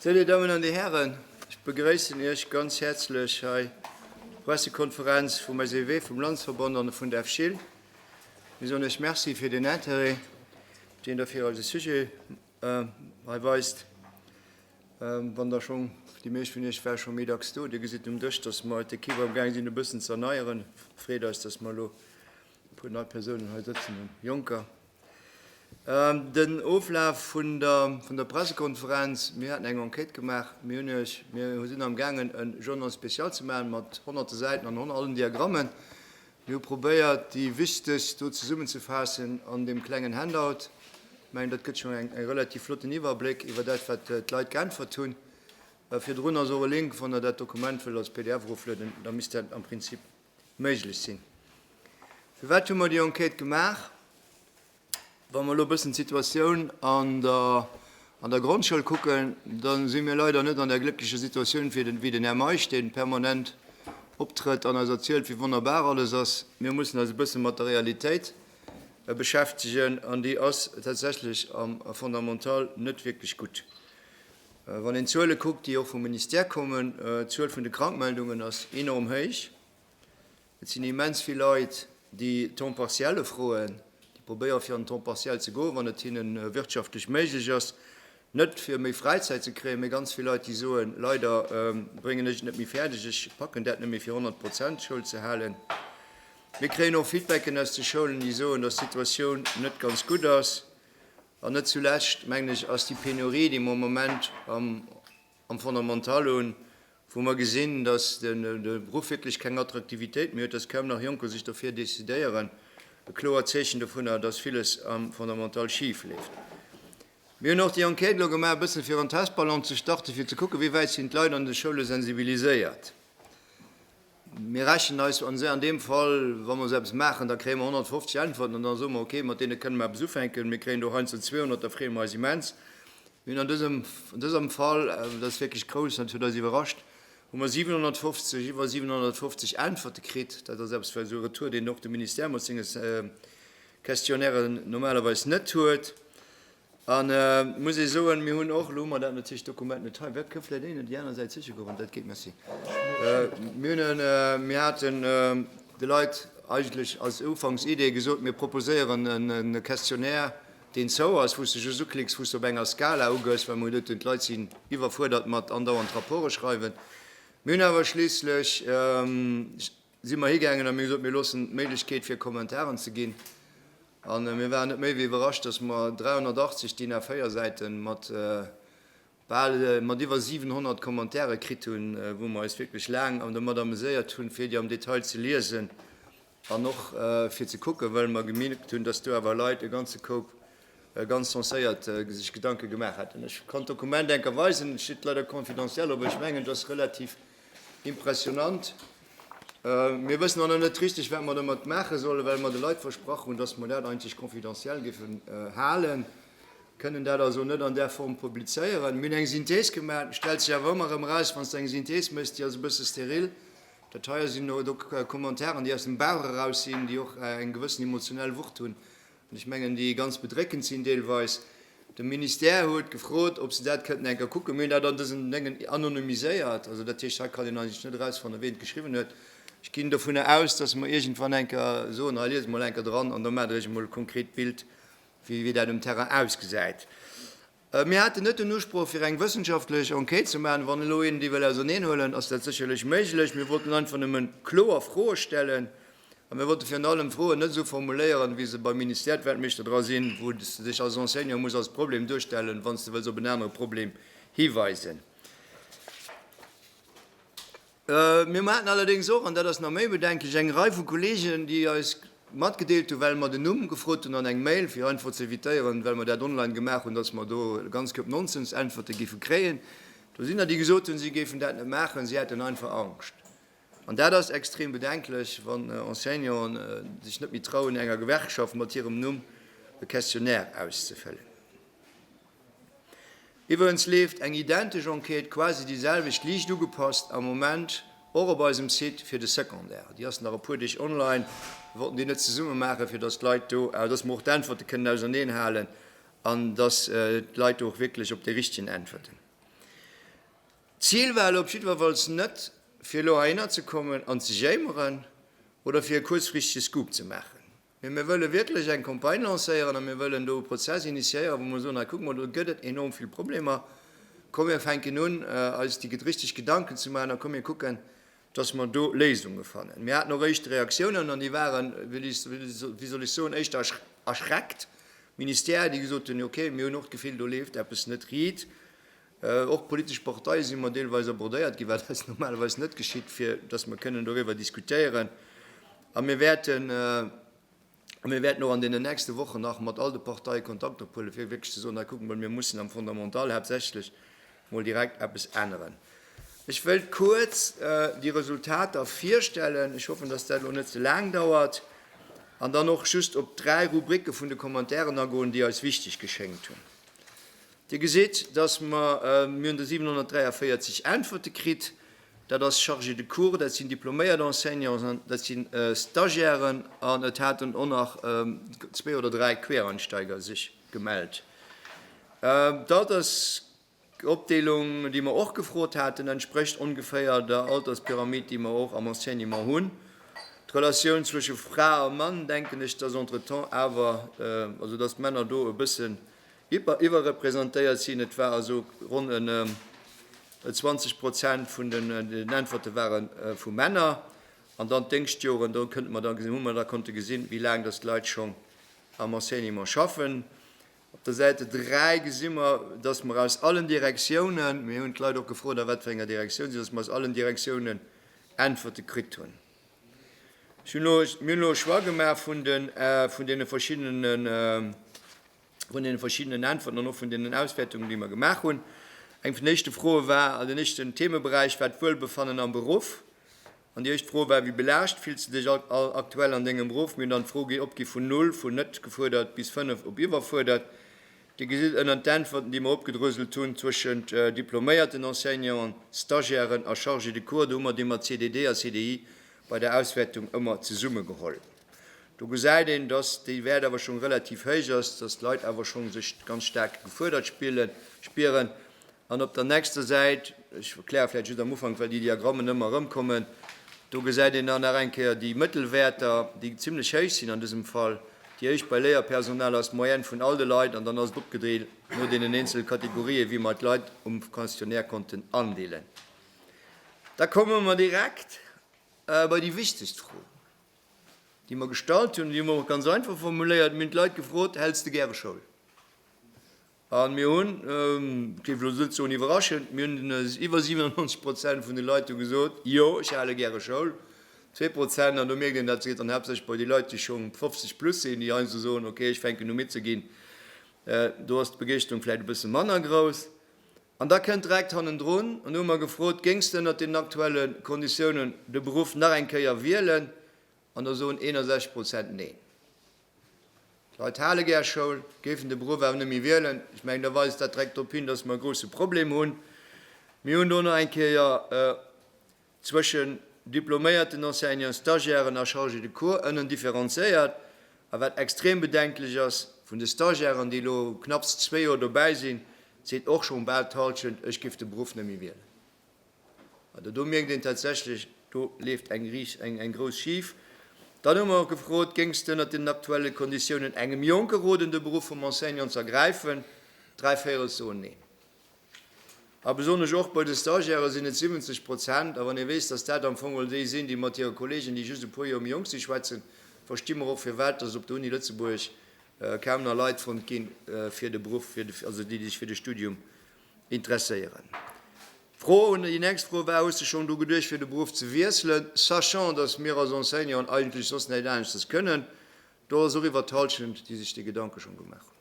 Sou, Dir Dammen an Dir Hären, ech begrëissen Iech ganz häerzlech hei op der Pressekonferenz vum SEW, vum Landesverband an vun der FSCIL. Mir soen Iech Merci fir den Interêt, deen Der fir eise Sujet Äh, hei weist, wann Der schonn, déi meescht vun Iech waren scho méi dacks do, Dir gesitt um Dësch, dass mer d'Equipe amgaang sinn e bëssen ze erneieren. Freet eis, dass mer elo e puer nei Persounen hei sëtzen hunn, Jonker. Ähm, den Oflaf vun der, vun der Pressekonferenz, Mir haten eng Enquête gemaach. Mir hunn Iech, mir sinn amgaangen e Journal spécial ze maachen mat Honnerte Säiten an allen Diagrammen. Mir hu probéiert, déi wichtegst do zesummenzefaassen an deem klengen Handout. Mengen, dat gëtt schonn eng relativ flotten Iwwerbléck iwwer dat, wat d'Leit geäntwert hunn. Virdrun ass och e Link, wann Der dat Dokument wëllt als pdf eroflueden, da misst dat am Prinzip méiglech sinn. Firwat hu mer déi Enquête gemaach? Wa mer elo e bëssen d'Situatioun an der Grondschoul kucken, da si mir leider net an där glécklecher Situatioun wéi den Här Meisch, dee permanent optrëtt an eis erzielt, wéi wonnerbar alles ass. Mir mussen eis e bësse mat der Realitéit beschäftegen, an déi ass tatsächlech am Fondamental net wierklech gutt. Wann een d'Zuele kuckt, déi och vum Ministère kommen, d'Zuel vun de Krankmeldungen ass enorm héich. Et sinn immens vill Leit, déi Temps partiel ufroen, déi probéiere fir an den Temps partiel ze goen, wann et hinne wirtschaftlech méiglech ass, net fir méi Fräizäit ze kréien, mee ganz vill Leit, déi soen, leider bréngen ech et net méi fäerdeg, ech packen dat net méi fir 100 Prozent Schoul ze halen. Mir kréien och Feedbacken aus de Schoulen, déi soen, dass d'Situatioun net ganz gutt ass. An net zulescht, mengen ech, ass déi Penurie, déi mer am Moment am. am Fondamental un, wou mer gesinn, dass de Beruff wierklech keng Attraktivitéit méi huet, dass kaum nach Jonker sech dofir decidéieren, e kloert Zeechen dovunner, dass villes am Fondamental schif leeft. Mir hunn och déi Enquête elo gemaach, e bësse fir en Testballon ze starten, fir ze kucken, wéi wäit sinn d'Leit an de Schoule sensibiliséiert. Mir rechnen eis an se an deem Fall, wa mer esou eppes maachen, da kréie mer 150 Äntwerten an da soe mer, okay, mat deene kënne mer eppes ufänken, mir kréien do heiansdo 200, da freeë mer eis immens. Mir hunn an dësem, an dësem Fall, dat ass wierklech grouss an dat huet eis iwwerrascht, hu mer 750, iwwer 750 Äntwerte kritt. Dat ass eppes, esou e Retour, deen och de Ministère mat senge Questionnairen normalerweis net huet. An et muss ee soen, mir hunn och, elo hu mer dat natierlech d'Dokument net hei, wat kënnt vläicht een op déi aner Säit siche goen, wann dat geet, merci, mir hunn en, mir haten de Leit eigentlech als Ufanks-Idee gesot, mir proposéieren e Questionnaire, deen zou ass, wou s de just uklicks, wou s de op enger Skala ugëss, well mer hunn doten, d'Leit sinn iwwerfuerdert mat andauernd Rapporte schreiwen. Mir hunn awer schliisslech, si mer higaangen a mir hu gesot, mir loossen d'Méiglechkeet fir Kommentaren ze ginn a mir waren net méi wéi iwwerrascht, datt mer 380, DIN A4 Säite mat bal, mat iwwer 700 Commentaire kritt hunn, wou mer eis wierklech laang dermat ameséiert hunn, fir déi am Detail ze liesen An och fir ze kucken, well mer gemierkt hunn, dass do awer Leit e ganze Koup ganz senséiert sech Gedanke gemaach haten. Ech kann d'Dokument eng Kéier weisen, et steet leider confidentiel, awer ech mengen et ass relativ impressionant. Mir wëssen och nach net richteg, wat mer domat maache sollen, well mer de Leit versprach hunn, dass mer dat eigentlech confidentiel géifen halen, kënnen dat also net an där Form publizéieren. Mir hunn eng Synthees gemaach. Et stellt sech awer ëmmer erëm eraus, wann s de eng Synthees méchs, déi ass e bësse steril, Dat hei sinn elo do Commentairen, déi aus dem Bauch eraus sinn, déi och eng gewëssen emotionell Wucht hunn an ech mengen, déi ganz bedréckend sinn deelweis. De Ministère huet gefrot, ob se dat kënnten eng Kéier kucken. Mir hunn dat an dësen Déngen anonymiséiert. Also dat heescht, hei kann een eigentlech net erausfannen, wien et geschriwwen huet. Ech ginn dovunner aus, dass mer iergendwann eng Kéier soen, hei liest emol eng Kéier dran an da maacht Der Iech emol e konkret Bild, wéi dat um Terrain ausgesäit. Mir haten net den Usproch, fir eng wëssenschaftlech Enquête ze maachen. Wann elo een déi wëll auserneenhuelen, ass dat sécherlech méiglech. Mir wollten einfach nëmme kloer Froe stellen. A mir wollten virun allem d'Froen net esou formuléieren, wéi se beim Ministère d'Weltmeeschter dra sinn, wou s de dech als Enseignant muss als Problem duerstellen, wann s de wëlls op en anere Problem hiweisen. Mir haten allerdéngs och, an dat ass nach méi bedenklech, eng Rei vu Kolleegen, déi eis matgedeelt hunn, well mer den Numm gefrot hunn an eng Mail, fir einfach ze evitéieren, well mer dat online gemaach hunn, datt mer do e ganz Koup Nonsens-Äntwerte géife kréien. Do sinn der, déi gesot hunn, si géifen dat net maachen, si hätten einfach Angscht. An dat ass extrem bedenklech, wann Enseignanten sech net méi trauen, enger Gewerkschaft mat hirem Numm e Questionnaire auszefëllen. Iwwerens leeft eng identesch Enquête, quasi déi selwecht, liicht ugepasst, am Moment och op eisem Site fir de Secondaire. Déi ass nach e puer Deeg online. Mir wollten déi net zesumme maachen, fir datt d'Leit do, datt mer och d'Äntwerte kënnen auserneen halen an datt d'Leit do och wierklech op déi richtegen Äntwerten. D'Zil war elo op jiddwerfalls net, fir elo heihinner ze kommen an ze jéimeren oder fir e kuerzfrichtege Scoop ze maachen. Mee mir wëlle wierklech eng Campagne lancéieren a mir wëllen do e Prozess initiéieren, wou mer soen, hei kuck mol, do gëtt et enorm vill Problemer, komm mir fänken un eis déi richteg Gedanken ze maachen a komm mir kucken, dass mer do Léisunge fannen. Mir haten och éischte Reaktiounen an déi waren, wéi soll ech soen, éischter erschreckt, Ministère, déi gesot hunn, okay, mir hunn och d'Gefill, do leeft eppes net riit. Och d'politesch Parteie si mer deelweis abordéiert ginn, wat eis normalerweis net geschitt, fir datt mer kënnen doriwwer diskutéieren. A mir wäerten a mir wäerten och an deenen nächste Wochen nach mat all de Parteie Kontakt ophuelen, fir wierklech ze soen, hei kucke mer, mir mussen am Fondamental haaptsächlech mol direkt eppes änneren. Ech wëilt kuerz déi Resultater virstellen, ech hoffen, datt dat elo net ze laang dauert, an dann och just op dräi Rubricke vun de Commentairen agoen, déi eis wichteg geschéngt hunn. Dir gesitt, dass mer, mir hunn do 743 Äntwerte kritt, dat ass Chargé de cours, dat sinn diploméiert Enseignants an dat si Stagiairen an et haten och nach zwee oder dräi Quereinsteiger sech gemellt. Dat ass d'Opdeelung, déi mer och gefrot haten, entsprécht ongeféier der Alterspyramid, déi mer och am Enseignement hunn. D'Relatioun zwësche Fra a Mann, denken ech, dass entretemps awer, also dass d'Männer do e bësse Iwwer iwwerrepresentéiert sinn. Et war also ronn en 20 Prozent vun den Äntwerte ware vu Männer. An dann d'Déngschtjoren, do kënnte mer da gesinn, hu mer da konnte gesinn, wéi laang datt d'Leit schonn am Enseignement schaffen. Op der Säite 3 gesi mer, datt mer aus allen Direktiounen, mir hunn d'Leit och gefrot a wat fir enger Direktioun si, datt mer aus allen Direktiounen Äntwerte kritt hunn. Ech hunn elo, mir hunn elo e Choix gemaach vun deene verschiddenen. vun deene verschiddenen Äntwerten an och vun deenen Auswäertungen, déi mer gemaach hunn. Eng vun den éischte Froe war, den éischten Themeberäich war d'Wuelbefannen am Beruff. An déi éischt Fro war, wéi belaascht fills de dech aktuell an dengem Beruff? Mir hunn dann d'Fro gi opgi vun null, vun net gefuerdert, bis fënnef, op iwwerfuerdert. Dir gesitt ënnert den Äntwerten, déi mer opgedröselt hunn, zwëschent diploméierten Enseignanten, Stagiairen a Chargés de cours, do hu mer d'Theema CDD a CDI bei der Auswäertung ëmmer zesummegeholl. Do gesäit een, dass déi Wäert awer schonn relativ héich ass, dass d'Leit awer schonn sech ganz staark gefuerdert spillen, spieren. An op der nächster Säit, ech erkläre vläicht just am Ufank, well déi Diagrammen ëmmer erëmkommen, do gesäit een dann nach eng Kéier déi Mëttelwäerter, déi zimmlech héich sinn an dësem Fall. Déi éischt bei Léierpersonal ass d'Moyenne vun all de Leit an dann ass et opgedreet no deenen eenzele Kategorië wéi mer d'Leit um Questionnaire konnten andeelen. Da komme mer direkt bei déi wichtegst Fro. déi mer gestallt hunn, déi hu mer och ganz einfach formuléiert, mir hunn d'Leit gefrot, Häls de gäre Schoul? A mir hunn, et géif elo net soen iwwerraschend, mir hunn iwwer 97 Prozent vun de Leit hu gesot, jo ech hale gäre Schoul. Zwee Prozent, an do mierkt een, dat geet dann haaptsächlech bei déi Leit, déi schonn 50 plus sinn, déi heiansdo soen, okay ech fänken u midd ze ginn, do ass d'Begeeschterung vläicht e bësse manner grouss. An da kënnt direkt hannendrun, an hu mer gefrot, géings de ënnert deenen aktuelle Konditiounen de Beruff nach eng Kéier wielen? An do soen 61 Prozent Neen. D'Leit hale gär Schoul, géifen de Beruff awer net méi wielen. Ech mengen, da weist dat direkt drop hin, dass mer e grouse Problem hunn. Mir hunn do nach eng Kéier. zwëschen diploméierten Enseignants, Stagiairen a Chargés de cours ënnen differenzéiert, a wat extrem bedenklech ass, vun de Stagiairen, déi elo knapps zwee Joer dobäi sinn, seet och schonn bal d'Hallschent, ech géif de Beruff net méi wielen. Also do mierkt een tatsächlech, do leeft eng richt, eng, eng grouss schif. Dann hu mer och gefrot, Géings de ënnert deenen aktuelle Konditiounen engem Jonke roden, de Beruff vum Enseignant z'ergräifen? Dräi Véirel soen Neen. A besonnesch och bei de Stagiairë sinn et 70 Prozent. A wann ee weess, dass dat am Fong mol déi sinn, déi mat hire Kollegen, déi just e puer Joer méi jonk sinn, schwätzen, versti mer och, firwat dass op der Uni Lëtzebuerg kaum nach Leit fonnt ginn, fir de Beruff, also déi, déi sech fir de Studium interesséieren. D'Fro, déi nächst Fro war, Hues de schonn dru geduecht, fir de Beruff ze wiesselen? Sachant, dass mir als Enseignanten eigentlech soss näit aneschtes kënnen, Do ass och iwwert d'Hallschent, déi sech dee Gedanke schonn gemaach hunn.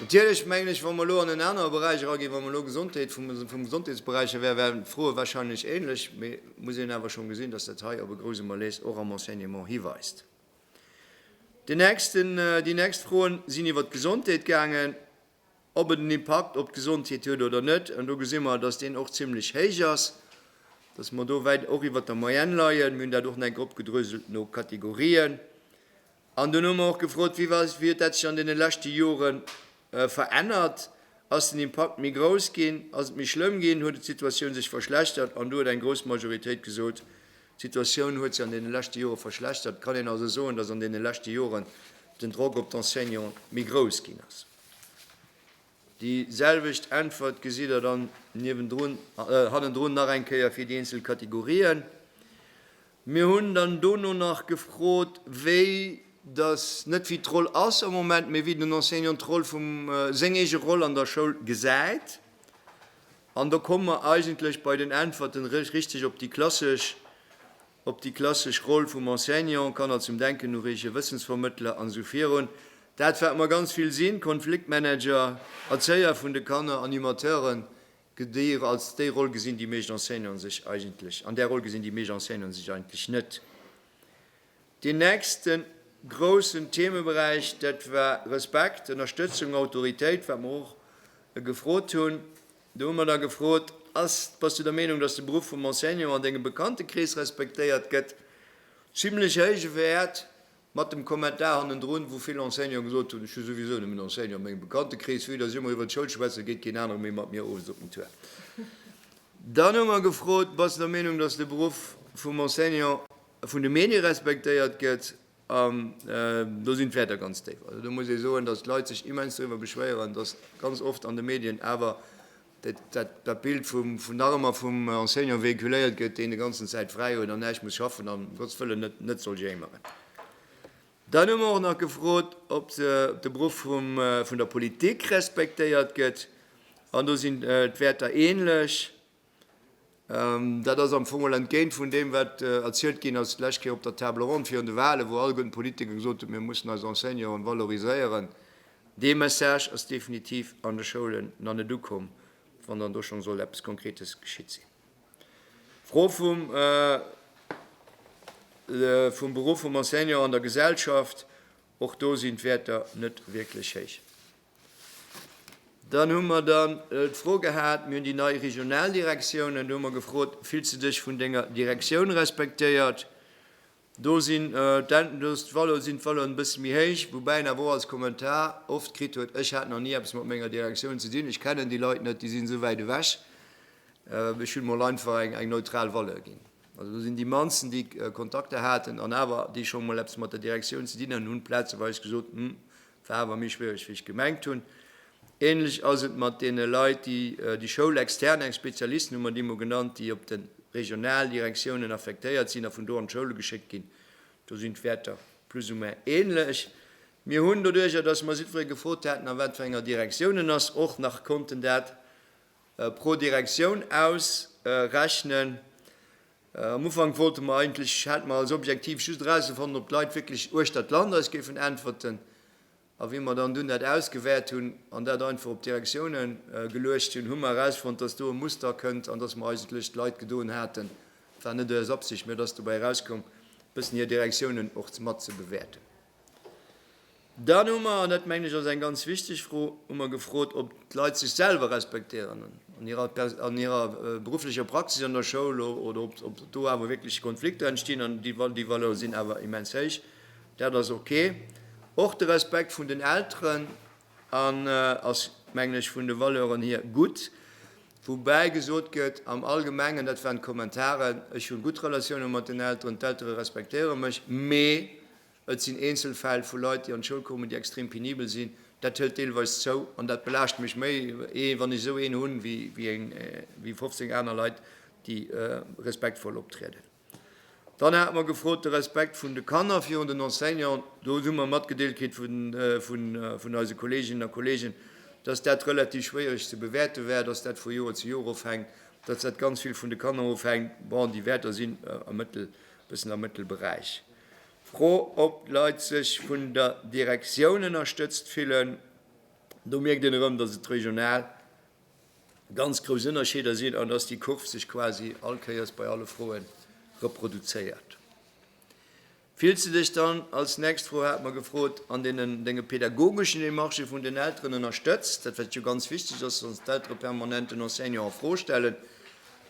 Natierlech mengen ech, wa mer elo an en anere Beräich eraginn, wa mer elo Gesondheet, vum, vum Gesondheetsberäich her, wären d'Froe wahrscheinlech ähnlech, mee et muss een awer schonn gesinn, dass dat hei op e grouse Malaise och am Enseignement hiweist. Deen nächsten, déi nächst Froen sinn iwwert d'Gesondheet gaangen. ob et en Impakt op d'Gesondheet huet oder net. An do gesi mer, dass deen och zimlech héich ass, dass mer do wäit och iwwert der Moyenne leien. Mir hunn dat och nach eng Kéier opgedröselt no Kategorien. An dunn hu mer och gefrot, Wéi huet dat sech an deene leschte Jore verännert? Ass den Impakt méi grouss ginn? Ass et méi schlëmm ginn? Huet d'Situatioun sech verschlechtert? An do huet eng grouss Majoritéit gesot, D'Situatioun huet sech an deene leschte Jore verschlechtert. Et kann een also soen, datt an deene leschte Joren den Drock op d'Enseignanten méi grouss ginn ass. Déi selwecht Äntwert gesitt Der dann niewendrun, hannendrun nach eng Kéier fir déi eenzel Kategorien. Mir hunn dann dono nach gefrot, wéi datt, net wéi d'Roll ass am Moment, mee wéi den Enseignant d'Roll vum, seng eege Roll an der Schoul gesäit. An do komme mer eigentlech bei den Äntwerten eréischt richteg op déi klassesch, op déi klassesch Roll vum Enseignant, Kanner zum Denken ureegen, Wëssensvermëttler an esou virun. Dat, wat mer ganz vill sinn, Konfliktmanager, Erzéier vun de Kanner, Animateuren, déi ech als déi Roll gesinn, déi meescht Enseignanten sech eigentlech, an där Roll gesinn déi meescht Enseignanten sech eigentlech net. Deen nächsten groussen Themeberäich, dat war Respekt, Ënnerstëtzung, Autoritéit, wat mer och gefrot hunn. Do hu mer da gefrot, Ass, bass du der Meenung, datt de Beruff vum Enseignant an dengem Bekanntekrees respektéiert gëtt? Zimlech héije Wäert, mat dem Kommentar hannendrun, wou vill Enseignanten gesot hunn, Ech hu souwisou nëmmen Enseignanten a mengem Bekanntekrees, vue datt ech ëmmer iwwert d'Schoul schwätzen, geet keen anere méi mat mir owes op den Tour. Dann hu mer gefrot, Bass du der Meenung, datt de Beruff vum Enseignant vun de Medie respektéiert gëtt, an do sinn d'Wäerter ganz déif. Also do muss ee soen, datt d'Leit sech immens doriwwer beschwéieren, datt ganz oft an de Medien awer dat Bild vun nach ëmmer vum Enseignant véhiculéiert gëtt, deen de ganzen Zäit fräi huet an näischt muss schaffen an ëm Gotts wëllen net soll jéimeren. Dann hu mer och nach gefrot, ob de Beruff vun der Politik respektéiert gëtt, an do sinn d'Wäerter änlech. Dat ass am Fong mol entgéint vun deem, wat erzielt ginn ass d'lescht Kéier op der Table ronde virun de Wahlen, wou all gëllen Politiker gesot hunn, mir mussen eis Enseignanten valoriséieren. Dee Message ass definitiv an de Schoulen nach net ukomm, wann dann do schonn sollt eppes Konkretes geschitt sinn. D'Fro vum Beruff vum Enseignant an der Gesellschaft, och do sinn d'Wäerter net wierklech héich. Dann hu mer dann d'Fro gehat, mir hunn déi nei Regionaldirektiounen, do hu mer gefrot, fills de dech vun denger Direktioun respektéiert? Do sinn d'Wallonen sinn d'Wallonen e bësse méi héich, woubäi en awer och als Kommentar oft kritt huet, ech hat nach ni eppes mat menger Direktioun ze dinn, ech kennen déi Leit net, déi sinn esou wäit ewech, ech hunn emol einfach eng eng neutral Valeur ginn. Also do sinn déi mannsten, déi Kontakter haten an awer déi scho mol eppes mat der Direktioun ze dinn hunn, hunn plazeweis gesot, hm, War awer méi schwiereg wéi ech gemengt hunn. Ähnlech ass et mat deene Leit déi déi Schoul extern, eng Spezialisten hu mer déi mol genannt, déi op den Regionaldirektiounen affektéiert sinn a vun do an d'Schoule geschéckt ginn. Do sinn d'Wäerter plus ou moins ähnlech. Mir hunn doduerjer, dass mer jiddweree gefrot haten a wat fir enger Direktioun en ass, och nach konnten dat pro Direktioun ausrechnen. Am Ufank wollte mer eigentlech, hate mer als Objektiv just erauszefannen, ob d'Leit wierklech uechter d'Land eis géifen äntwerten. A wéi mer dann dunn dat ausgewäert hunn an dat einfach op d'Direktioune geluecht hunn, hu mer erausfonnt, dass do e Muster kënnt an dass mer eigentlech d'Leit gedoen haten, et war net eis Absicht, mä et ass dobäi erauskomm, e bëssen hir Direktiounen och matzebewäerten. Dann hu mer, an dat mengen ech ass eng ganz wichteg Fro, hu mer gefrot, ob d'Leit sech selwer respektéieren an hirer berufflecher Praxis an der Schoul oder ob do awer wierklech Konflikter entstinn. An déi Valeur sinn awer immens héich, dat ass ok. Och de Respekt vun den Elteren ass, mengen ech, vun de Valeuren hier gutt. Woubäi gesot gëtt, am Allgemengen, dat waren d'Kommentaren, ech hu gutt Relatioune mat den Elteren, d'Eltere respektéiere mech, mee Et sinn eenzel Fäll vu Leit, déi an d'Schoul kommen, déi extrem penibel sinn. Dat hëlt deelweis zou an dat belaascht mech méi, ee wann ech esou een hunn, wéi 15 aner Leit, déi respektvoll optrieden. Dann hate mer gefrot, de Respekt vun de Kanner virun den Enseignanten. Do hu mer matgedeelt kritt vun eise Kolleeginnen a Kolleegen, dass dat relativ schwéiereg ze bewäerte war, dass dat vu Joer zu Joer ofhänkt, dass dat ganz vill vun de Kanner ofhänkt. Bon, déi Wäerter sinn e bëssen am Mëttelberäich. D'Fro, ob d'Leit sech vun der Direktioun ënnerstëtzt fillen, do mierkt een erëm, dass et regional ganz grouss Ënnerscheeder sinn an dass déi Kurv sech quasi all Kéiers bei alle Froe reproduzéiert. Fills de dech dann, als nächst Fro hate mer gefrot, an deenen denge pädagogeschen Demarchë vun den Elteren ënnerstëtzt? Dat wat jo ganz wichteg ass, dass d'Eltere permanent den Enseignant a Fro stellen,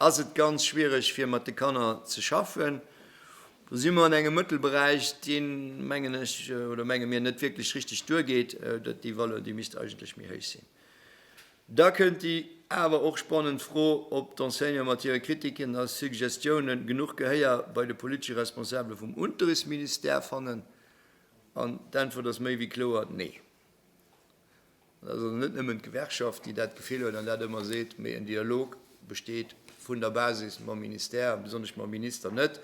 Ass et ganz schwiereg fir mat de Kanner ze schaffen? Do si mer an engem Mëttelberäich, deen, mengen ech, oder menge mir, net wierklech richtig duergeet. Déi Valeur, déi misst eigentlech méi héich sinn. Da kënnt déi awer och spannend Fro, ob d'Enseignanten mat hire Kritiken a Suggestiounen genuch Gehéier bei de politesche Responsabele vum Unterrichtsministère fannen. An d'Äntwert ass méi wéi kloer, Nee! Et ass also net nëmmen d'Gewerkschaft, déi dat Gefill huet an dat ëmmer seet, mee en Dialog besteet vun der Basis mam Ministère a besonnesch mam Minister net.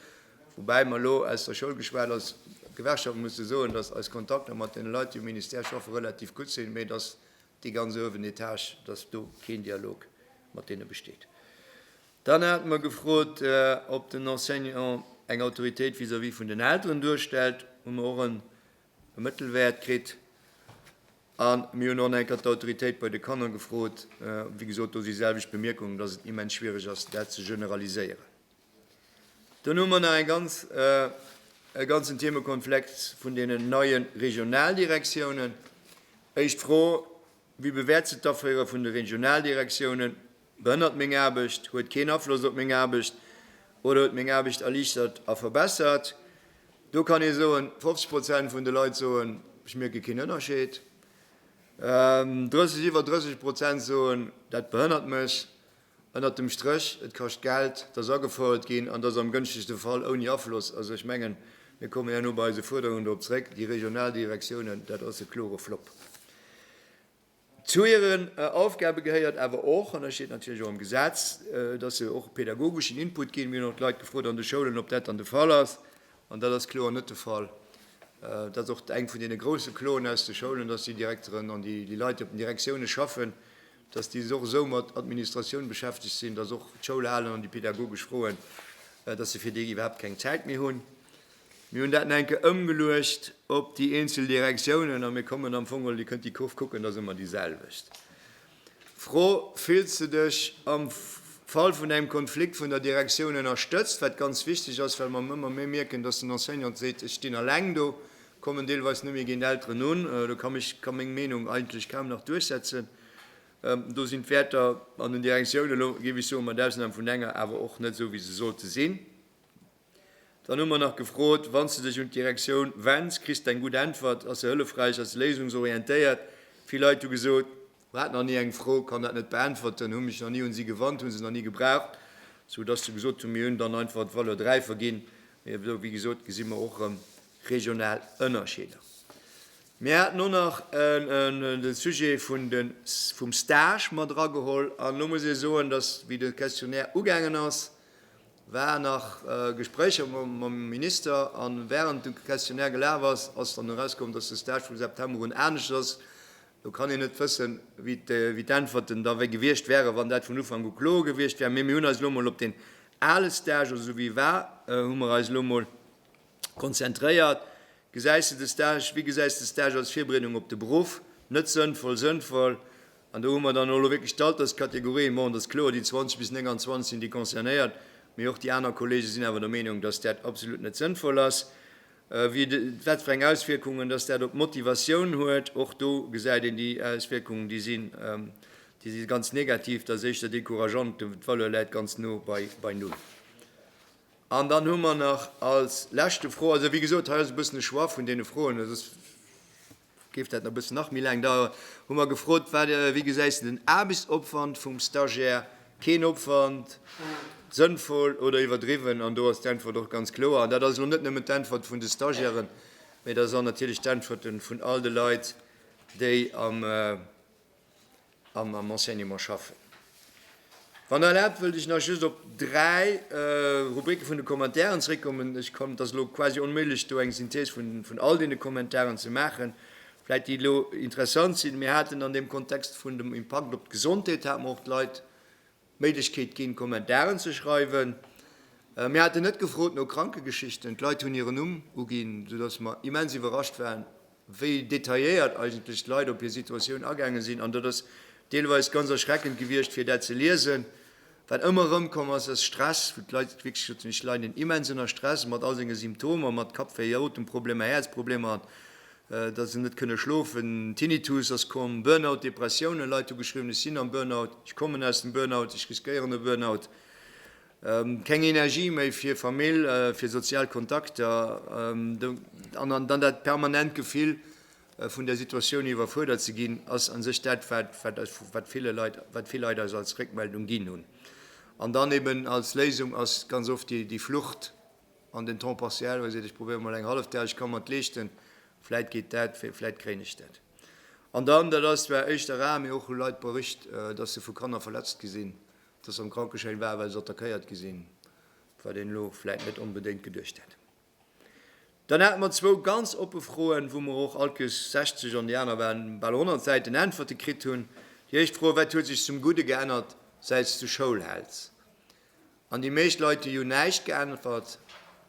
Woubäi mer elo aus der Schoul geschwat als Gewerkschaft musse soen, datt eis Kontakter mat deene Leit, déi um Ministère schaffen, relativ gutt sinn, mee datt déi ganz uewen Etage, datt do keen Dialog mat deene besteet. Dann hate mer gefrot, ob den Enseignant eng Autoritéit vis-à-vis vun den Elteren duerstellt. Hu mer och en e Mëttelwäert kritt. A mir hunn och nach eng Kéier d'Autoritéit bei de Kanner gefrot. Wéi gesot, do si selwecht Bemierkungen, dass et immens schwierig ass, dat ze generaliséieren. Dann hu mer nach eng ganz, e ganzen Themekonflex vun deenen neie Regionaldirektiounen. Éischt Fro, Wie bewäert se? D'Aféiere vun de Regionaldirektiounen behënnert meng Aarbecht, huet keen Afloss op meng Aarbecht oder huet meng Aarbecht erliichtert a verbessert? Do kann ee soen, 50 Prozent vun de Leit soen, ech mierke keen Ënnerscheed. Iwwer 30 Prozent soen, dat behënnert mech. Ënnert dem Stréch, Et kascht Geld, dass agefouert ginn, an dass am gënschtegste Fall ouni Afloss, also ech mengen, mir kommen herno bei eise Fuerderungen drop zréck, déi regional Direktiounen, dat ass e klore Flopp. Zu hiren Aufgabe gehéiert awer och, an dat steet natierlech och am Gesetz, dass se och pädagogeschen Input ginn. Mir hunn och d'Leit gefrot an de Schoulen, ob dat dann de Fall ass, an dat ass kloer net de Fall. Dat ass och eng vun deene grouse Kloen aus de Schoulen, dass déi Direkteren an déi Leit, déi op den Direktioune schaffen, dass déi och esou mat Administratioun beschäftegt sinn, dass och d'Schoulhalen an déi pädagogesch Froen, dass se fir déi iwwerhaapt keng Zäit méi hunn. Mir hunn dat nach eng Kéier ëmgeluecht op déi eenzel Direktiounen a mir kommen am Fong, Dir kënnt déi Kurv kucken, dat ass ëmmer déiselwecht Fro, Fills de dech am Fall vun engem Konflikt vun der Direktioun ënnerstëtzt? Wat ganz wichteg ass, well mer ëmmer méi mierken, dass den Enseignant seet, ech stinn alleng do, Kommen deelweis net méi géint Elteren un, do kann mech ka meng Meenung eigentlech kaum nach duerchsetzen. Do sinn d'Wäerter an den Direktioune lo géif ech soen, mat Ausnam vun enger, awer och net esou wéi se sollte sinn. Dann hu mer nach gefrot, wann s de dech un d'Direktioun wenns, kriss d'eng gutt Äntwert, ass se hëllefräich, ass se léisungsorientéiert? Vill Leit hu gesot, Mer haten nach ni eng Fro, kann dat net beäntwerten, hu mech nach ni un si gewannt, hu se nach ni gebraucht, sou dass se gesot hunn, mir hunn dann einfach d'Valeur 3 verginn. Mee elo, wéi gesot, gesi mer och erëm regional Ënnerscheeder. Mir haten och nach de Sujet vun de, vum Stage mat erageholl. An elo muss ee soen, dass, wéi de Questionnaire ugaangen ass, waren nach Gespréicher mam Minister. An während de Questionnaire gelaf ass, ass dann erauskomm, dass de Stage vu September un anescht ass, Lo kann een net wëssen, wéi d'Äntwerten da gewiescht wären, wann dat vun Ufank u kloer gewiescht wär. Mee mir hunn eis elo mol op deen ale Stage, also esou wéi e war, hu mer eis elo mol konzentréiert. Gesäis de de Stage, wéi gesäis de de Stage als Virbereedung op de Beruff? Net sënnvoll, sënnvoll? An do hu mer dann och elo wierklech d'Alterskategorien, bon, et ass kloer, déi 20 bis 29 sinn déi concernéiert, mee och déi aner Kollege sinn awer der Meenung, datt dat absolut net sënnvoll ass. Wie wat fir eng Auswierkungen dass dat op d'Motivatioun huet, och do gesäit een déi Auswierkungen, déi sinn, déi si ganz negativ, dat ass éischter decourageant, d'Valeur läit ganz no bei null. An dann hu mer nach als leschte Fro, also wéi gesot hei ass e bëssen e Choix vun deene Froen, Géif dat e bëssen nach méi laang daueren, hu mer gefrot. Wat, wéi gesäis de den Aarbechtsopwand vum Stagiaire? Keen Opwand, sënnvoll oder iwwerdriwwen? An do ass d'Äntwert och ganz kloer. An dat ass elo net nëmmen d'Äntwert vun de Stagiairen, mee dat ass och natierlech d'Äntwerte vun all de Leit, déi am. a mam Enseignement schaffen. Wann Der erlaabt, wëllt ech nach just op dräi Rubricke vun de Kommentaren zréckkommen. Ech kann, et ass elo quasi onméiglech, do eng Synthèse vun all deene Kommentaren ze maachen, vläicht déi elo interessant sinn. Mir haten an deem Kontext vun dem Impakt op d'Gesondheet, hate mer och d'Leit, Méiglechkeet ginn, Kommentaren ze schreiwen. Mir haten net gefrot no Krankegeschichten, d'Leit hunn hiren Numm uginn, sou dass mer immens iwwerrascht waren, wéi detailléiert eigentlech d'Leit op hir Situatioun agaange sinn. An dat ass deelweis ganz erschreckend gewiescht, fir dat ze liesen. Wat ëmmer erëmkomm ass, ass Stress, wou d'Leit wierklech soten, ech leiden immens ënner Stress, mat all senge Symptomer, mat Kappwéi, Otemproblemer, Häerzproblemer an Datt se net kënne schlofen, Tinnitus ass komm, Burnout, Depressioune, Leit hu geschriwwen, ech sinn am Burnout, ech kommen aus dem Burnout, ech riskéieren e Burnout, keng Energie méi fir Famill, fir sozial Kontakter an dann dat permanent Gefill vun der Situatioun iwwerfuerdert ze ginn, ass a sech dat, wat vill Leit eis als Réckmeldung ginn hunn. An dann eeben als Léisung ass ganz oft déi Flucht. an den temps partiel, wou e seet, ech probéiere mol eng hallef Dag, ech ka mer et leeschten, vläit geet dat, vläit kréien ech dat. An dann, dat ass zwar éischter rar, mee och hu Leit bericht, datt se vu Kanner verletzt gi sinn, datt se am Krankeschäin waren, well se attackéiert gi sinn, wat een elo vläit net onbedéngt geduecht hätt. Dann hate mer zwou ganz oppe Froen, wou mer och alt guess 60, an déi aner waren bal 100 Säiten Äntwerte kritt hunn. Déi éischt Fro, Wat huet sech zum Gudde geännert, säits du Schoulhaelz? An déi meescht Leit, déi hunn näischt geäntwert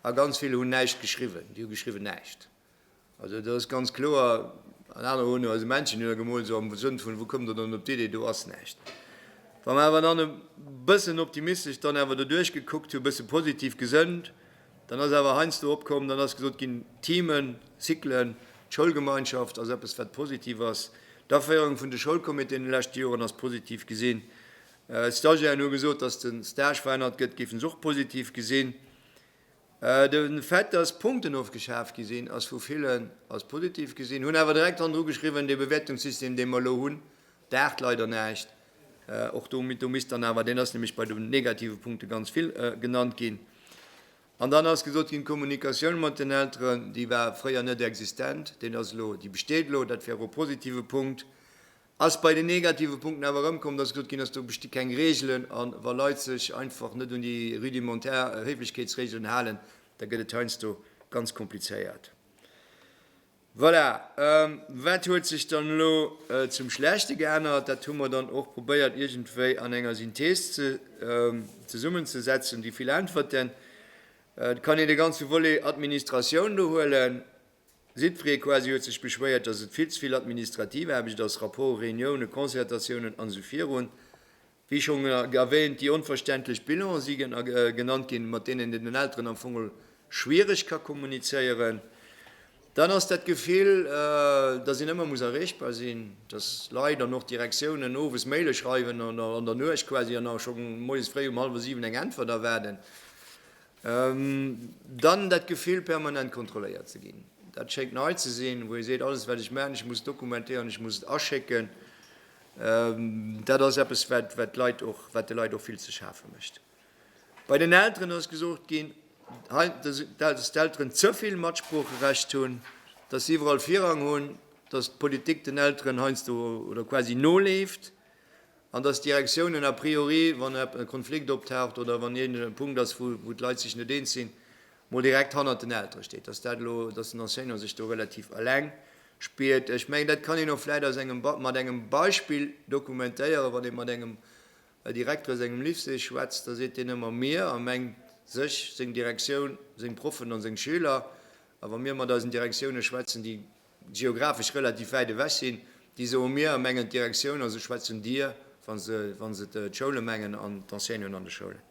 a ganz vill hunn näischt geschriwwen. Déi hu geschriwwen näischt. Also do ass ganz kloer, an anerer hunn eise Männchen hunn gemoolt, esou am Sënn vun, wou kommt der dann op d'Idee, do ass näischt. Wa mer awer dann e bëssen optimistesch dann awer doduerch gekuckt hu, bësse positiv gesënnt, dann ass awer heiansdo opkomm, dann ass gesot ginn, Themen, Cyclen, d'Schoulgemeinschaft ass eppes wat positiv ass, d'Aféierung vun de Schoulcomitéen an de leschte Joren ass positiv gesinn D'Stagiairen hu gesot, datt de Stage verännert gëtt, géifen se och positiv gesinn. De Fait, datt Punkten ofgeschaf gi sinn, ass vu villen als positiv gesinn, hunn awer direkt hannendru geschriwwen, dee Bewäertungssystem, dee mer elo hunn, daacht leider näischt. Och do misst dann awer, deen ass nämlech bei de negative Punkte ganz vill genannt ginn. An dann ass gesot ginn, d'Kommunikatioun mat den Elteren, déi war fréier net existent, déi besteet elo, dat wär e positive Punkt. Ass bei den negative Punkten awer erëmkomm, dass gesot ginn ass, do besti keng Reegelen a wa Leit sech einfach net un déi rudimentaire Héiflechkeetsreegelen halen, da gëtt et heiansdo ganz komplizéiert. Voilà. Wat huet sech dann elo zum Schlechte geännert? Dat hu mer dann och probéiert iergendwéi an enger Synthees ze zesummenzesetzen. Déi vill Äntwerten, et kann een de ganze Volet Administratioun do huelen, Siegfried Quasi huet sech beschwéiert, dass et vill ze vill administrativ Aarbecht ass, Rapporte, Reuniounen, Concertatiounen an esou virun. Wéi schonn erwähnt, déi onverständlech Bilane si genannt ginn, mat deenen een den Elteren am Fong schwiereg ka kommunizéieren. Dann ass dat Gefill, dass een ëmmer muss erreechbar sinn, dass Leit an och d'Direktiounen owes Maile schreiwen oder an der Nuecht quasi an nach scho moies fréi um hallwer siwen eng Äntwert erwaarden. Dann dat Gefill, permanent kontrolléiert ze ginn, dat schéngt nei ze sinn, wou ee seet, alles wat ech maachen, ech muss dokumentéieren, ech muss et aschécken. Dat ass eppes, wat de Leit och wat de Leit och vill ze schafe mécht. Bei den Elteren ass gesot ginn, dass d'Elteren ze vill Matsproocherecht hunn, dass se iwwerall Virrang hunn, dass d'Politik den Elteren heiansdo oder quasi noleeft. An dass d'Direktiounen a priori, wann e Konflikt optaucht oder wann iergend e Punkt ass, wou d'Leit sech net eens sinn, mol direkt hannert den Eltere steet, dass dat elo, dass den Enseignant sech do relativ eleng spiert. Ech mengen, dat kann een och vläicht aus engem, mat engem Beispill dokumentéieren. Wann ee mat engem Direkter aus engem Lycée schwätzt, da seet deen ëmmer mir a mengt sech, seng Direktioun, seng Proffen an seng Schüler. A wa mir mat eisen Direktioune schwätzen, déi geographesch relativ wäit ewech sinn, déi soe mir a mengen d'Direktioun, also ech schwätzen Dir, wa se wa se d'Schoule mengen an d'Enseignanten an de Schoulen.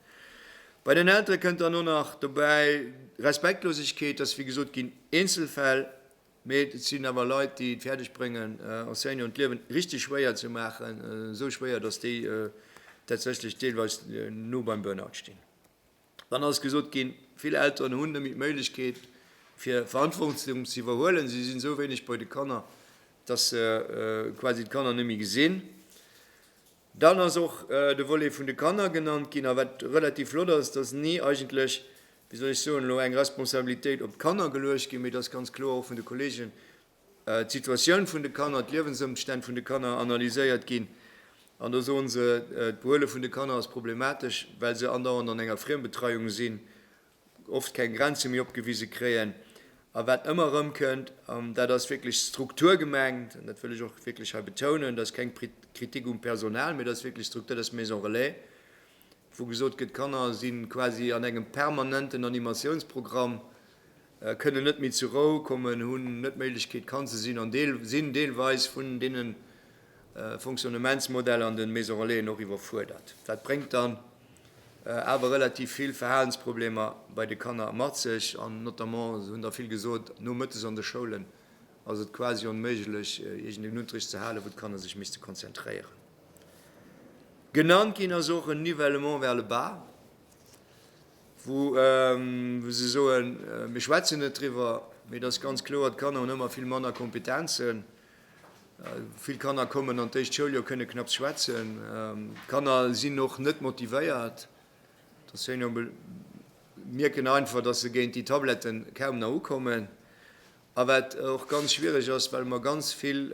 Bei den Eltere kënnt dann och nach dobäi Respektlosegkeet, dass, wéi gesot ginn, Eenzelfäll, mee et sinn awer Leit, déi et fäerdeg bréngen, Enseignanten d'Liewen richteg schwéier ze maachen, esou schwéier, dass déi tatsächlech deelweis no beim Burnout stinn. Dann ass gesot ginn, vill Elteren hunn net méi d'Méiglechkeet, fir Verantwortung ze iwwerhuelen. Si sinn esou wéineg bei de Kanner, dass se quasi d'Kanner net méi gesinn. Dann ass och de Volet vun de Kanner genannt ginn. A wat relativ flott ass, dass ni eigentlech, wéi soll ech soen, elo eng Responsabilitéit op d'Kanner geluecht ginn, mee dass ganz kloer och vun de Kollegen d'Situatioun vun de Kanner, d'Liewensëmstänn vun de Kanner analyséiert ginn. An do soe se, d'Behuele vun de Kanner ass problematesch, well se andauernd an enger Friembetreiung sinn, oft keng Grenze méi opgewise kréien. A wat ëmmer erëmkënnt, an dat ass wierklech d'Struktur gemengt, an dat wëll ech och wierklech hei betounen, dat ass keng Kritik um Personal, mee dat ass wierklech d'Struktur, dat ass d'Maison relais, wou gesot gëtt, d'Kanner si quasi an engem permanenten Animatiounsprogramm, kënnen net méi zur Rou kommen, hunn net d'Méiglechkeet kann ze sinn an sinn deelweis vun deene Fonctionnementsmodeller an de Maison Relaisen och iwwerfuerdert. Dat bréngt dann awer relativ vill Verhalensproblemer bei de Kanner mat sech an notamment, se hunn der vill gesot, nomëttes an de Schoulen ass et quasi onméiglech iergendeen Unterricht ze halen, wou d'Kanner sech misste konzentréieren. Genannt ginn ass och en Nivellement vers le bas. wou se soen, mir schwätzen net driwwer, mee et ass ganz kloer, d'Kanner hunn ëmmer vill manner Kompetenzen, vill Kanner kommen an d'éischt Schouljoer, kënne knapps schwätzen, d'Kanner sinn och net motivéiert, d'Enseignante mierken einfach, datt se géint déi Tabletten kaum nach ukommen. A wat och ganz schwiereg ass, well mer ganz vill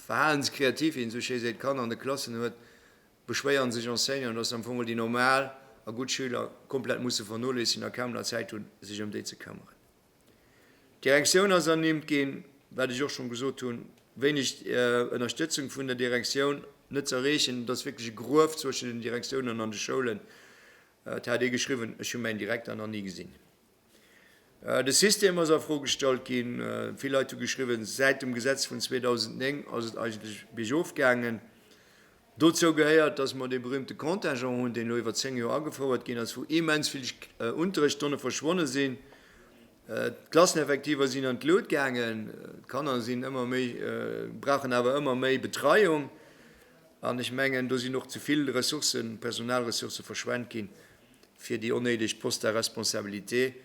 verhalenskreativ, wéi een esou schéi seet, Kanner an de Klassen huet, beschwéieren sech Enseignanten, dass se am Fong mol déi normal a gutt Schüler komplett musse vernoléissigen a kaum nach Zäit hunn, sech ëm déi ze këmmeren. D'Direktioun ass ernimmt ginn, wat ech och schonn gesot hunn, wéineg Ënnerstëtzung vun der Direktioun, net ze erreechen. Et ass wierklech e Gruef zwëschen den Direktiounen an de Schoulen. Dat hat ee geschriwwen, ech hu mäin Direkter nach ni gesinn. De System ass a Fro gestallt ginn. Vill Leit hu geschriwwen, säit dem Gesetz vun 2009 ass et eigentlech biergof gaangen. Dozou gehéiert, dass mer dee berüümte Contingent hunn, deen elo iwwer zéng Joer agefouert ginn ass, wou immens vill Unterrichtsstonne verschwonne sinn. D'Klasseneffektiver sinn an d'Lut gaangen, d'Kanner sinn ëmmer méi, brauchen awer ëmmer méi Betreiung. An ech mengen, do sinn och ze vill Ressourcen, Personalressourcë verschwent ginn. fir déi onnéideg Poste à responsabilité.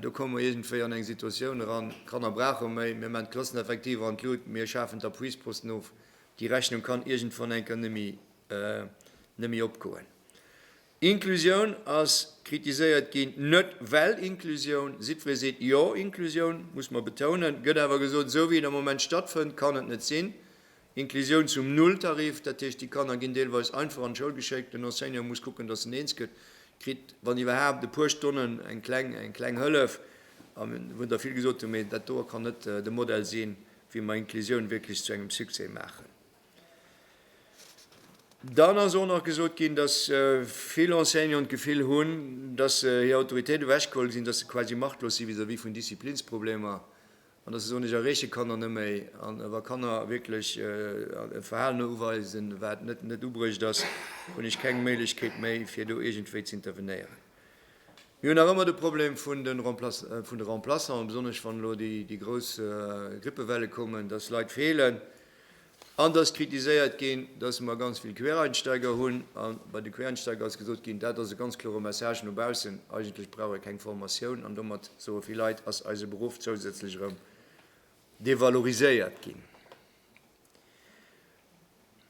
Do komme mer iergendwéi an eng Situatioun eran, d'Kanner brauche méi, mir maachen d'Klasseneffektiver an d'Lut, mir schafen d'Appuisposten of, déi Rechnung kann iergendwann eng Kéier net méi opgoen. Inclusioun ass kritiséiert ginn, net well Inclusioun, jiddweree seet jo, Inclusioun, muss mer betounen, gëtt awer gesot, esou wéi et am Moment stattfënnt, kann et net sinn, Inklusioun zum Nulltarif, dat heescht, déi Kanner ginn deelweis einfach an d'Schoul geschéckt, den Enseignant muss kucken, datt en eens gëtt, kritt, wann iwwerhaapt, e puer Stonnen, eng kleng, eng kleng Hëllef, wou Der vill gesot hutt, mee dat doe kann net de Modell sinn, wéi mer Inklusioun wierklech zu engem Succès maachen. Dann ass och nach gesot ginn, datt vill Enseignanten d'Gefill hunn, datt hir Autoritéit ewechgeholl sinn, datt se quasi machtlos si vis-à-vis vun Disziplinsproblemer, An dass ee sou net erreeche kann an eméi an wa Kanner wierklech e Verhalen uweisen, wat net net ubruecht ass, hunn ech keng Méiglechkeet méi, fir do iergendwéi z'intervenéieren. Mir hunn nach ëmmer de Problem vun de vun de Remplaçanten, besonnesch wann elo déi déi grouss Grippewelle kommen, dass Leit feelen. An dass kritiséiert ginn, dass mer ganz vill Quereinsteiger hunn. A bei de Quereinsteiger ass gesot ginn, dat ass e ganz klore Message no baussen, eigentlech brauch ee keng Formatioun. An domat, soe vill Leit, ass eise Beruff zousätzlech erëm devaloriséiert ginn.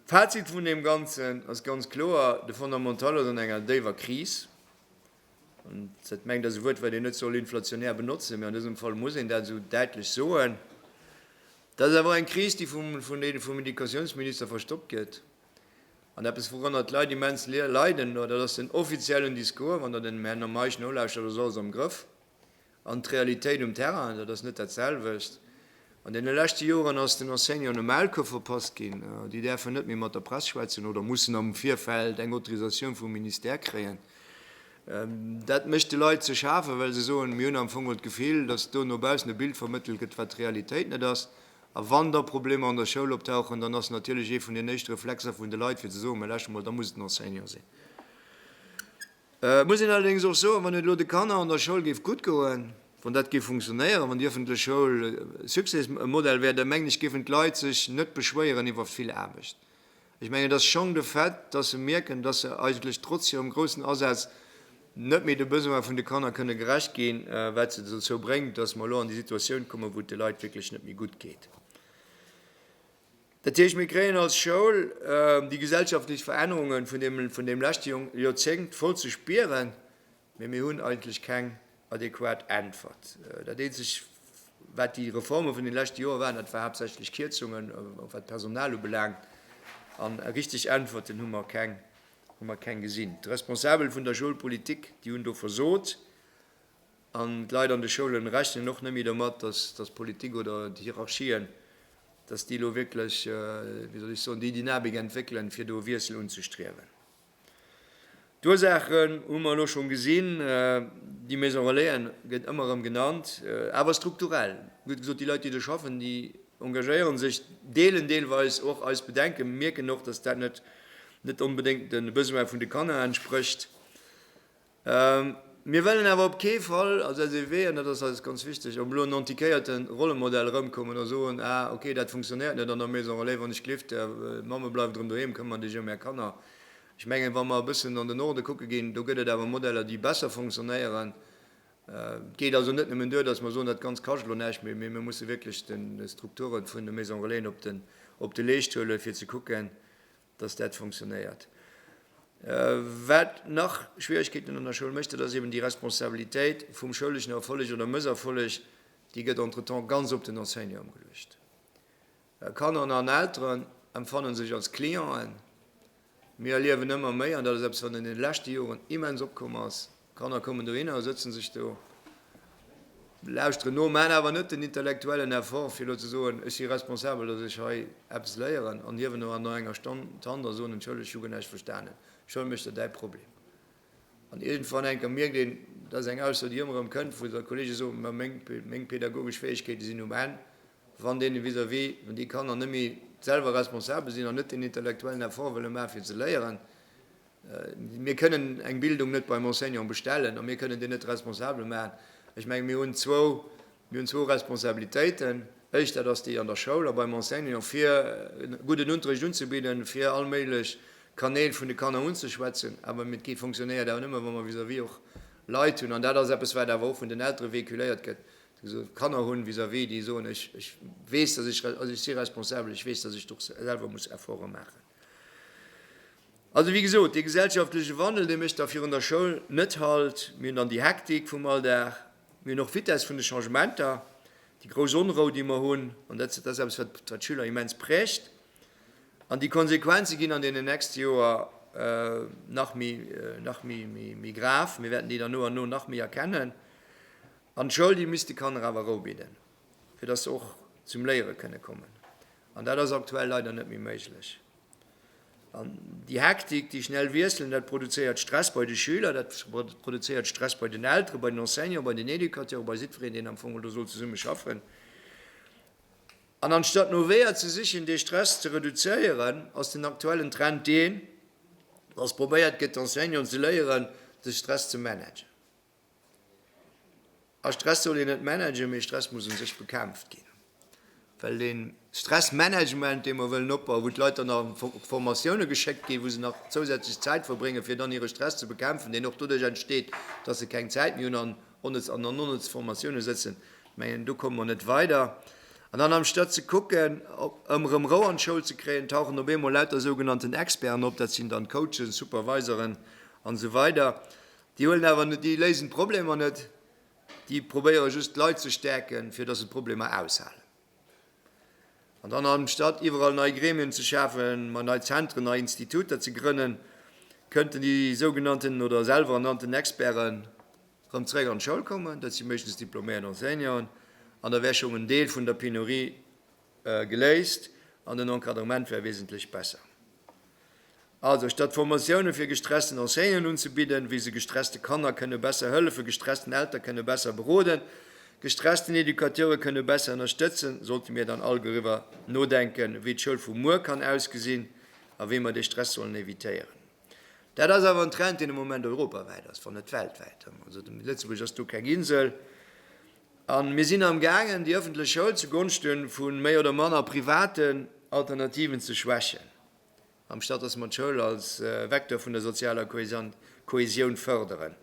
D'Fazit vun deem Ganzen ass ganz kloer, De Fondamental ass an enger déiwer Kris. Dat mengt ass e Wuert, wat een net soll inflationär benotzen, mee an dësem Fall muss een dat esou däitlech soen. Dat ass awer eng Kris, déi vum, vun deene vum Educatiounsminister verstoppt gëtt. An eppes, wourënner d'Leit immens leiden, dat ass den offiziellen Discours, wann Der dem Här Meisch nolauschtert, ass alles am Grëff. An d'Realitéit um Terrain, dat ass net dat selwecht. An deene leschte Joren ass den Enseignanten e Maulkuerf verpasst ginn. Déi däerfen net méi mat der Press schwätzen oder mussen am Virfeld eng Autorisatioun vum Ministère kréien. Dat mécht de Leit ze schafen, well se soen, mir hunn am Fong mol d'Gefill, datt do no baussen e Bild vermëttelt gëtt, wat d'Realitéit net ass. A wann da Problemer an der Schoul optauchen, dann ass natierlech ee vun den éischte Reflexer vun de Leit, fir ze soen, mä lauschtert mol, da muss et den Enseignant sinn. Et muss een allerdéngs och soen, wann et elo de Kanner an der Schoul géif gutt goen, wann dat géif funktionéieren, wann déi ëffentlech Schoul e Succèsmodell wär, da mengen ech géifen d'Leit sech net beschwéieren iwwer vill Aarbecht. Ech mengen et ass schonn de Fait, dass se mierken, dass se eigentlech trotz hirem groussen Asaz net méi de Besoine vun de Kanner kënne gerecht ginn, wat se dozou bréngt, dass mer elo an déi Situatioun kommen, wou et de Leit wierklech net méi gutt geet. Dat heescht, mir kréien als Schoul déi gesellschaftlech Verännerunge vun deem leschte Joerzéngt voll ze spieren, mee mir hunn eigentlech keng adequat Äntwert. Dat eenzeg, wat déi Reforme vun de leschte Joer waren, dat war haaptsächlech Kierzungen, och wat d'Personal ubelaangt, an richteg Äntwerten hu mer keng, hu mer keng gesinn. D'Responsabel vun der Schoulpolitik, déi hunn do versot. An d'Leit an de Schoulen rechnen och net méi domat, dass d'Politik oder d'Hierarchien, dass déi elo wierklech, wéi soll ech soen, déi Dynamik entwéckelen, fir do e Wiessel unzestriewen. D'Ursaachen hu mer elo schonn gesinn. Déi Maison relaisen gëtt ëmmer erëm genannt, awer strukturell gëtt gesot, déi Leit, déi do schaffen, déi engagéiere sech, deelen deelweis och eis Bedenken, mierken och, dass dat net onbedéngt de Besoine vun de Kanner entsprécht. Mir wëllen awer op kee Fall als SEW, an dat ass eis ganz wichteg, op elo en antiquéierte Rollemodell erëmkommen a soen, ah okay, dat funktionéiert net an der Maison relais, wann ech gelift, d'Mamme bleift erëm doheem, këmmer dech ëm är Kanner. Ech mengen, wa mer e bëssen an den Norde kucke ginn, do gëtt et awer Modeller, déi besser funktionéieren. Et geet also net nëmmen duer, dass mer soen, dat Ganzt kascht elo näischt méi, mee mir musse wierklech d'Strukture vun de Maison-relaisen op de Leescht huelen, fir ze kucken, dass dat fonctionnéiert. Wat nach Schwierigkeeten an der Schoul mécht, dat ass eben déi Responsabilitéit vum schouleschen Erfolleg oder Mësserfolleg, déi gëtt entretemps ganz op den Enseignant ëmgeluecht. Kanner an Elteren empfannen sech als Clienten. Mir erliewen ëmmer méi, an dat ass eppes, wat an deene leschte Joren immens opkomm ass, D'Kanner kommen dohinner, sëtzen sech do, lauschteren no, maachen awer net den intellektuellen Effort, fir elo ze soen, ech si responsabel, datt ech hei eppes léieren an hiewen no enger Stonn d'Hand a soen, entschëllegt, ech hu guer näischt verstanen, schëll mech der däi Problem. An iergendwann enker mierkt een, dat ass eng Ausso, déi ëmmer erëm kënnt, wou da Kolleege soen, mä meng pädagogesch Fäegkeete sinn um Enn, wann deene vis-à-vis, wann déi Kanner net méi selwer responsabel sinn an net den intellektuellen Effort wëlle maachen, fir ze léieren. Mir kënnen eng Bildung net beim Enseignant bestellen a mir kënnen deen net responsabel maachen. Ech menge mir hunn zwou, mir hunn zwou Responsabilitéiten, éischt dat ass déi an der Schoul a beim Enseignant, fir gudden Unterricht unzebidden, fir all méiglech Kanäl vun de Kanner unzeschwätzen, awer et gi fonctionnéiert awer nëmme wa mer vis-à-vis och Leit hunn, an dat ass eppes wat awer och vun den Eltere véhiculéiert gëtt, déi so Kanner hunn vis-à-vis, déi soen, ech weess, datt ech, also ech si responsabel, ech weess, datt ech do och selwer muss Efforte maachen. Also, wéi gesot, dee gesellschaftleche Wandel, dee mécht da virun der Schoul net Halt. Mir hunn dann déi Hektik vum Alldag. Mir hunn och d'Vitess vun de Changementer, déi grouss Onrou, déi mer hunn. An dat ass eppes, wat d'Schüler immens prägt. An déi Konsequenze ginn an deenen nächste Joer nach méi, nach méi grav. Mir wäerten déi dann no an no nach méi erkennen. An d'Schoul, déi misst de Kanner awer Rou bidden. fir dass se och zum Léiere kënne kommen. An dat ass aktuell leider net méi méiglech. An déi Hektik, déi schnell Wiesselen, dat produzéiert Stress bei de Schüler, dat produzéiert Stress bei den Elteren, bei den Enseignanten, bei den Educateuren, bei jiddwereen, deen am Fong elo do soll zesumme schaffen. An anstatt no Weeër ze sichen, dee Stress ze reduzéieren, ass den aktuellen Trend deen, dass probéiert gëtt, d'Enseignanten ze léieren, de Stress ze managen. A Stress soll een net managen, mee Stress muss u sech bekämpft ginn. Well dee Stressmanagement, dee mer wëllen opbauen, wou d'Leit dann a Formatioune geschéckt ginn, wou se nach zousätzlech Zäit verbréngen, fir dann hire Stress ze bekämpfen, deen och doduerch entsteet, datt se keng Zäit méi hunn an an onnëtze Formatioune sëtzen, mengen, do komme mer net weider. An dann amstatt ze kucken, ëm erëm Rou an d'Schoul ze kréien, tauchen op eemol lauter sougenannten Experten op, dat sinn dann Coachen, Superviseren an esou weider. Déi huelen awer net, déi léisen d'Problemer net, déi probéieren just d'Leit ze stäerken, fir dass se d'Problemer aushalen. An dann anstatt iwwerall nei Gremien ze schafen, ma nei Zentren, nei Instituter ze grënnen, kënnten déi sougenannten oder selwer ernannten Experten rëm zréck an d'Schoul kommen, dat si meeschtens diploméiert Enseignanten, an da wär schonn en Deel vun der Penurie Geléist an den Encadrement wär wesentlech besser. Also statt Formatiounen fir gestressten Enseignanten unzebidden, wéi se gestresste Kanner kënne besser hëllefen, gestressten Elter kënne besser beroden, gestressten Educateure kënne besser ënnerstëtzen, sollte mir dann all doriwwer nodenken, wéi d'Schoul vu muer kann ausgesinn a wéi mer de Stress sollen evitéieren. Dat ass awer en Trend, deen am Moment europawäit ass, wann net weltwäit. Also Lëtzebuerg ass do keng Insel. A mir sinn am gaangen, déi ëffentlech Schoul zu Gonschte vu méi oder manner privaten Alternativen ze schwächen, amstatt datt mer d'Schoul als Vecteur vun der sozialer Kohäsioun fërderen.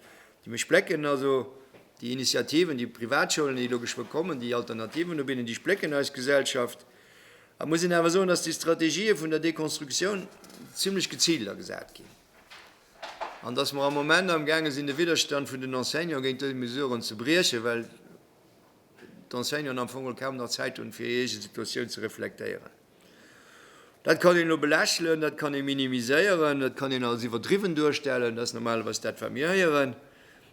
Déi mech splécken, also déi Initiativen, déi Privatschoulen, déi elo geschwë kommen, déi Alternativen ubidden, déi splécken eis Gesellschaft. Et muss een awer soen, datt déi Strategië vun der Deconstructioun zimlech geziilt agesat ginn. an dass mer am Moment am gaange sinn, de Widderstand vun den Enseignanten géint dës Mesuren ze briechen, well d'Enseignanten am Fong kaum nach Zäit hunn, fir hir eege Situatioun ze reflektéieren. Dat kann een elo belächelen, dat kann ee minimiséieren, dat kann een als iwwerdriwwen duerstellen, dat ass normalerweis dat, wat mir héieren,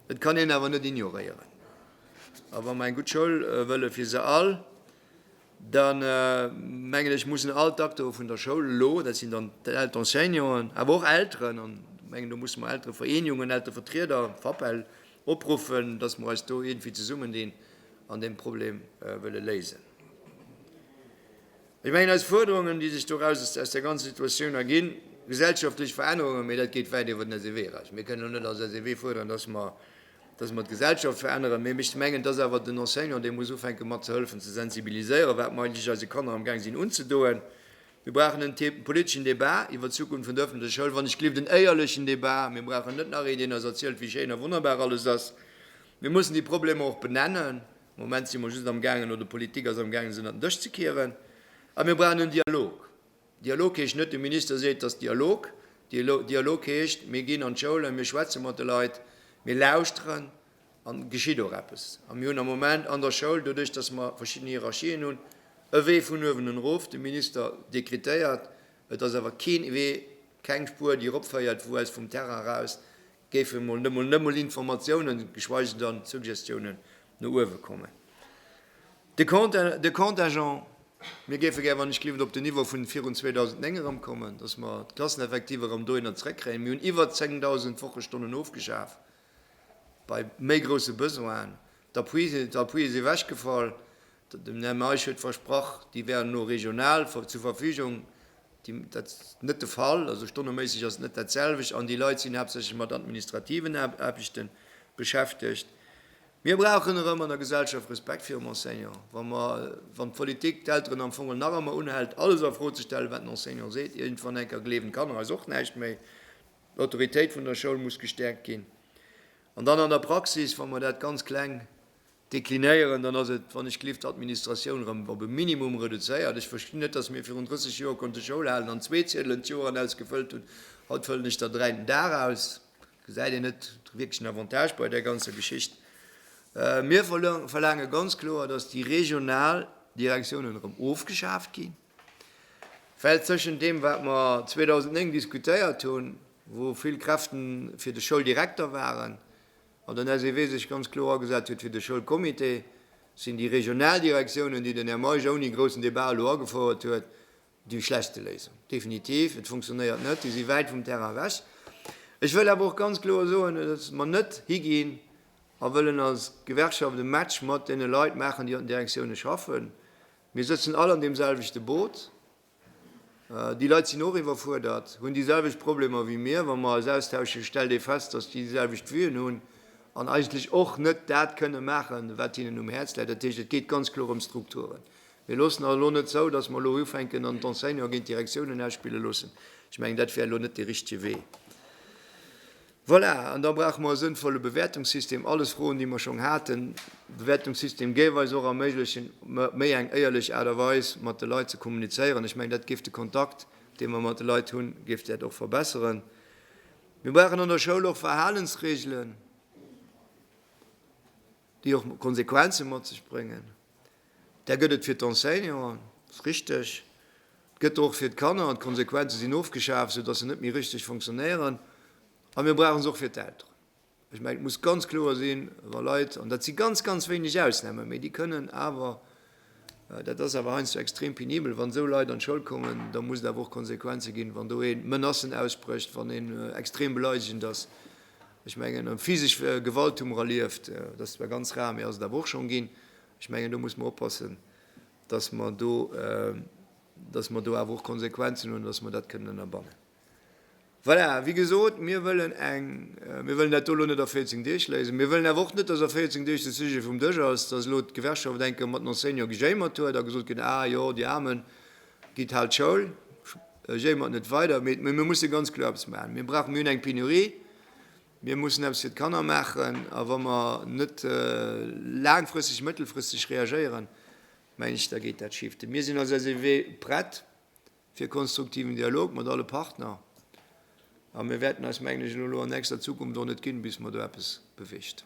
et kann een awer net ignoréieren. A wa mer eng gutt Schoul wëlle fir se all, da mengen ech, mussen all d'Acteure vun der Schoul elo, dat sinn dann d'Enseignanten, awer och Elteren, an ech mengen, do musse mer Elterevereenigungen, Elterevertrieder, VAPEL, opruffen, datt mer eis do iergendwéi zesummendinn an deem Problem wëlle léisen. Ech mengen, eis Fuerderungen, déi sech doraus aus där ganzer Situatioun erginn, gesellschaftlech Verännerungen, mee dat geet wäit iwwer den SEW eraus. Mir kënnen net als SEW fuerderen, datt mer dass mer d'Gesellschaft veränneren, mä ech mengen, et ass awer den Enseignant, dee muss ufänke mat ze hëllefen ze sensibiliséieren, wat mer eigentlech eise Kanner am Gaang sinn unzedoen. Mir brauchen en Thé politeschen Débat iwwert d'Zukunft vun der öffentlecher Schoul, wann ech gelift en éierlechen Débat. Mir brauchen net nach een, deen eis erzielt, wéi schéin a wonnerbar alles ass. Mir mussen déi Problemer och benennen. Am Moment si mer just am Gaangen, oder d'Politik ass am Gaangen, se ënner den Dësch ze kieren. A mir brauchen en Dialog. Dialog heescht net, de Minister seet, et ass Dialog. Dialog heescht, mir ginn an d'Schoulen, mir schwätze mat de Leit, mir lauschteren an et geschitt och eppes. A mir hunn am Moment an der Schoul, doduerch datt mer verschidden Hierarchien hunn, e Wee vun uewen un erof. De Minister dekretéiert, et ass awer keen Wee, keng Spuer, déi eropféiert, wou aus vum Terrain eraus géifen emol net mol net mol Informatiounen, geschweige dann Suggestiounen no uewe kommen. De Compte, de Contingent, mir géife gär, wann ech gelift, op den Niveau vun virun 2009 erëmkommen, dass mer d'Klasseneffektiver erëm dohinner zrëckkréien. Mir hunn iwwer 10.000 Wochestonnen ofgeschaf bei méi grousse Besoinen. D'Appuie, d'Appuie si ewechgefall. Den Här Meisch huet versprach, déi wären elo regional zur Verfügung. Dat ass net de Fall, also stonneméisseg ass et net dat selwecht an déi Leit sinn haaptsächlech mat administrativen Aarbechte beschäftegt. Mir brauchen erëm an der Gesellschaft Respekt virum Enseignant. Wa mer, wann d'Politik d'Elteren am Fong nach ëmmer unhält, alles a Fro ze stellen, wat den Enseignant seet, iergendwann eng Kéier gleewen d'Kanner eis och näischt méi. D'Autoritéit vun der Schoul muss gestäerkt ginn. An dann an der Praxis, wa mer dat ganz kleng Deklinéieren, dann ass et, wann ech gelift, d'Administratioun erëm op e Minimum reduzéiert. Ech verstinn net, datt mir virun 30 Joer konnte Schoul halen an zwee Ziedelen d'Joeren aus gefëllt hunn, haut fëllen ech der dräi den Dag aus. Gesäit een net de wierklechen Avantage bei där ganzer Geschicht? Mir verlaange ganz kloer, datt déi regional Direktiounen erëm ofgeschaaft ginn, well tëschent deem, wat mer 2009 diskutéiert hunn, wou vill Kräften fir de Schouldirekter waren, Wann den SEW sech ganz kloer agesat huet fir de Schoulcomité, sinn déi Regionaldirektiounen, déi den Här Meisch ouni groussen Debat elo agefouert huet, déi schlechtste Léisung. Definitiv, et funktionéiert net, déi si wäit vum Terrain ewech. Ech wëll awer och ganz kloer soen, datt mer net higinn a wëllen als Gewerkschaft e Match mat deene Leit maachen, déi an den Direktiounen schaffen. Mir sëtzen all an deem selwechte Boot. Déi Leit sinn och iwwerfuerdert, hunn déi selwecht Problemer wéi mir. Wa mer eis austauschen, stellt ee fest, dass déi déi selwecht Vue'en hunn an eigentlech och net dat kënne maachen, wat hinnen um Häerz läit. Dat heescht, et geet ganz kloer ëm Strukturen. Mir loossen awer elo net zou, dass mer elo ufänken an d'Enseignanten géint d'Direktiounen ausspille loossen. Ech mengen, dat wär elo net dee richtege Wee. Voilà, an da brauche mer e sënnvolle Bewäertungssystem. Alles Froen, déi mer schonn haten. De Bewäertungssystem géif eis och erméiglechen, méi eng éierlech Aart a Weis mat de Leit ze kommunizéieren. Ech mengen, dat géif de Kontakt, dee mer mat de Leit hunn, géif dat och verbesseren. Mir brauchen an der Schoul och Verhalensreegelen, déi och Konsequenze mat sech bréngen. Där gëtt et fir d'Enseignanten, dat ass richteg. Et gëtt der och fir d'Kanner an d'Konsequenze sinn ofgeschaaft, soudass se net méi richteg fonctionnéieren. A mir brauche se och fir d'Elteren. Ech mengen, et muss ganz kloer sinn, wa Leit, an dat si ganz, ganz wéineg Ausnamen, mä déi kënnen awer, dat ass awer heiansdo extrem penibel, wann esou Leit an d'Schoul kommen, da muss et awer och Konsequenze ginn, wann do ee Menacen ausbrécht, wann een extrem beleidegend ass. Ech mengen, physesch Gewalt hu mer erlieft, dat ass zwar ganz rar, mä ass et awer och schonn ginn. Ech mengen, do musse mer oppassen, dass mer do, dass mer do awer och Konsequenzen hunn, dass mer dat kënnen ënnerbannen. Voilà, wéi gesot, mir wëllen eng, mir wëllen dat do elo net a 14 Deeg léisen. Mir wëllen awer och net, dass a 14 Deeg de Sujet vum Dësch ass, dass elo d'Gewerkschaft enke mat den Enseignante gejéimert huet a gesot gëtt, Ah jo, déi Aarmen, gitt haalt d'Schoul, jéimert net weider. Mee mir musse ganz kloer eppes maachen. Mir brauchen, mir hunn eng Penurie. Mir mussen eppes fir d'Kanner maachen. A wa mer net laangfristeg, mëttelfristeg reagéieren, mengen ech, da geet dat schif. Mir sinn als SEW prett fir konstruktiven Dialog mat alle Partner. A mir wäerten eis, mengen ech, elo an nächster Zukunft och net ginn, bis mer do eppes beweegt.